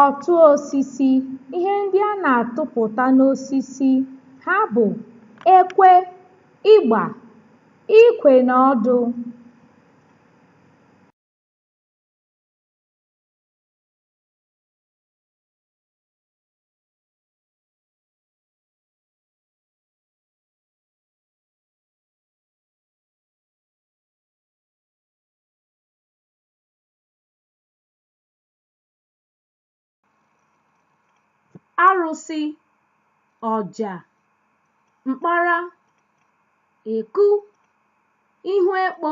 Ọtụ osisi, ihe ndị a na-atụpụta n'osisi ha bụ ekwe, ịgba, ikwe na ọdụ. arụsị ọja mkpara eku ihu ekpo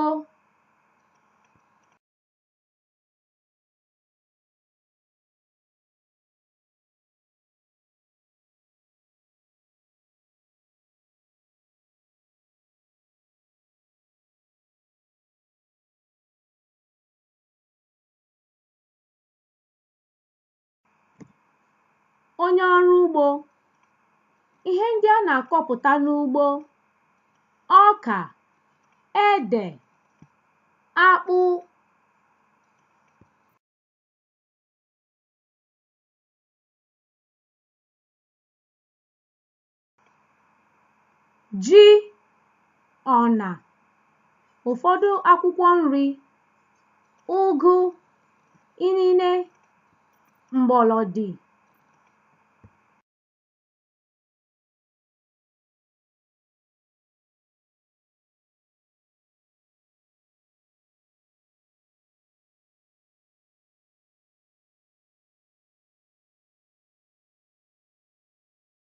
onye ọrụ ugbo ihe ndị a na-akọpụta n'ugbo ọka ede akpụ ji ọna ụfọdụ akwụkwọ nri ụgụ inine mgbọlọdị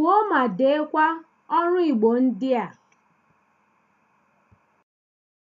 Kwuo ma deekwa ọrụ Igbo ndị a.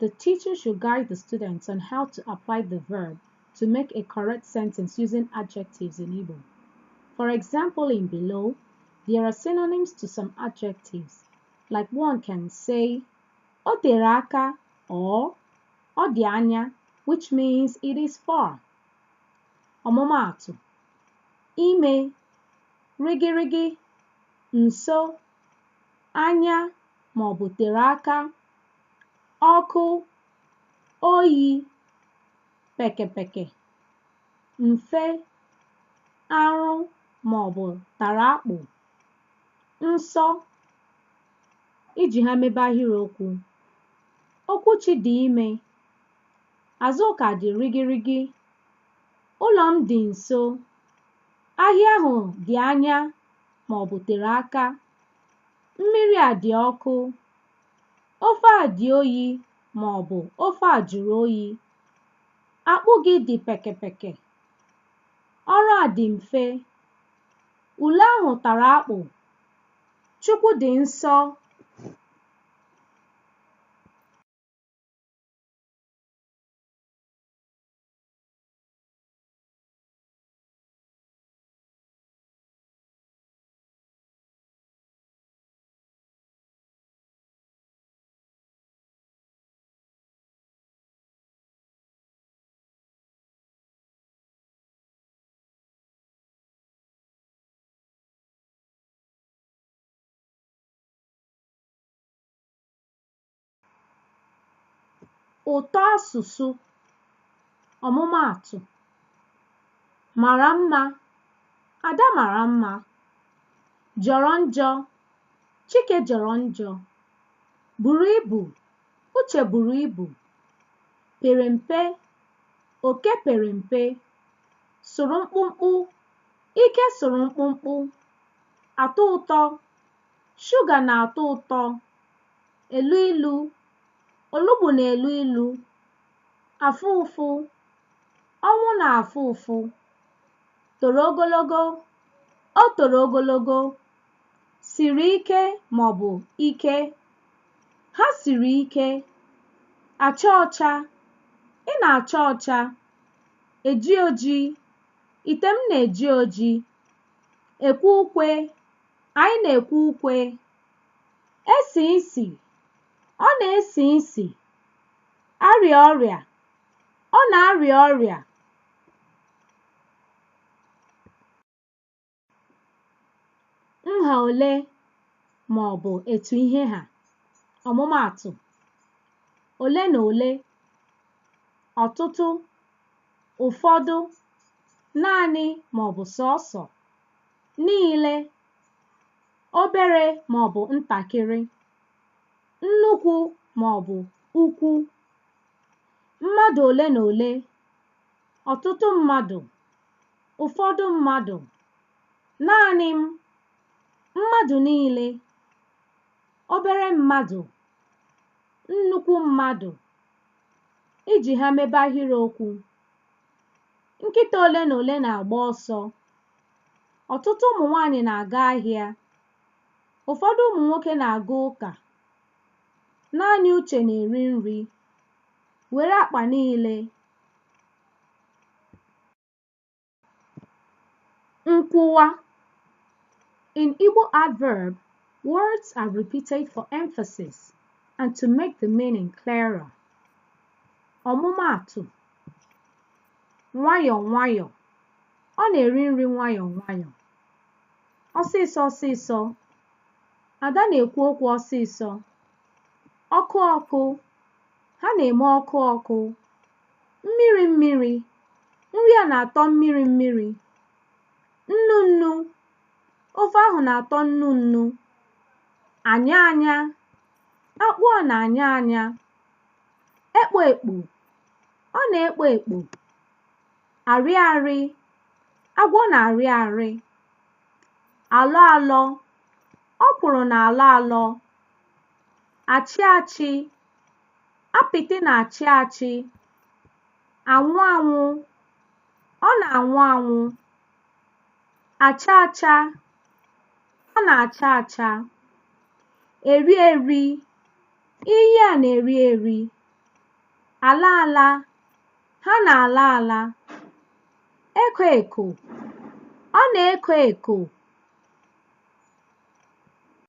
The teacher should guide the students on how to apply the verb to make a correct sentence using adjectives in Igbo. For example, in below, there are synonyms to some adjectives. Like one can say, O aka or O dianya, which means it is far. Ọmụmaatụ, ime, rigirigi, nso, anya, maọbụ tere aka, ọkụ oyi pekepeke mfe arụ maọbụ tara akpụ nsọ iji ha mebe ahịrịokwu okwuchi dị ime azụka dị rigirigi ụlọ m dị nso ahịa ahụ dị anya maọbụ tere aka mmiri a dị ọkụ ofe a dị oyi ma ọ bụ ofe a jụrụ oyi akpụ gị dị pekepeke ọrụ a dị mfe ule ahụ tara akpụ chukwu dị nsọ ụtọ asụsụ ọmụmaatụ mara mma ada mara mma jọrọ njọ Chike jọrọ njọ. Buru ibu. Uche buru ibu. Pere mpe. Oke pere mpe. Sụrụ mkpụmkpụ. Ike sụrụ mkpụmkpụ. Atọ ụtọ. Shuga na-atọ ụtọ. Elu ilu. Olugbu na-elu ilu. Afụ ụfụ. Ọnwụ na-afụ ụfụ. Toro ogologo. O toro ogologo. siri ike ma ọ bụ ike ha siri ike acha ọcha ị na-acha ọcha eji oji ite m na-eji oji ekwe ukwe anyị na-ekwe ukwe esi isi ọ na-esi isi arịa ọrịa ọ na-arịa ọrịa nha ole ma ọ bụ etu ihe ha ọmụmaatụ ole na ole ọtụtụ ụfọdụ naanị ma ọ bụ sọọsọ niile obere ma ọ bụ ntakịrị nnukwu ma ọ bụ ukwu mmadụ ole na ole ọtụtụ mmadụ ụfọdụ mmadụ, naanị m, mmadụ niile, obere mmadụ, nnukwu mmadụ, iji ha mebe ahịrịokwu. Nkịta ole na ole na-agba ọsọ. Ọtụtụ ụmụ nwaanyị na-aga ahịa. Ụfọdụ ụmụ nwoke na-aga ụka. Naanị Uche na-eri nri. Were akpa niile. Nkwuwa In Igbo adverb, words are repeated for emphasis and to make the meaning clearer. Ọmụmaatụ nwayọọ nwayọọ ọ na-eri nri nwayọọ nwayọọ ọsịsọ ọsịsọ Ada na-ekwu okwu ọsịsọ ọkụ ọkụ ha na-eme ọkụ ọkụ mmiri mmiri nri a na-atọ mmiri mmiri nnu nnu ofe ahụ na-atọ nnu nnu anya anya akpụ a na-anya anya ekpo ekpo ọ na-ekpo ekpo arị arị agwọ na-arị arị alọ alọ ọkwụrụ na-alọ alọ achị achị apịtị na-achị achị anwụ anwụ ọ na-anwụ anwụ acha acha ọ na-acha acha eri eri iyi a na-eri eri ala ala ha na-ala ala eko eko ọ na-eko eko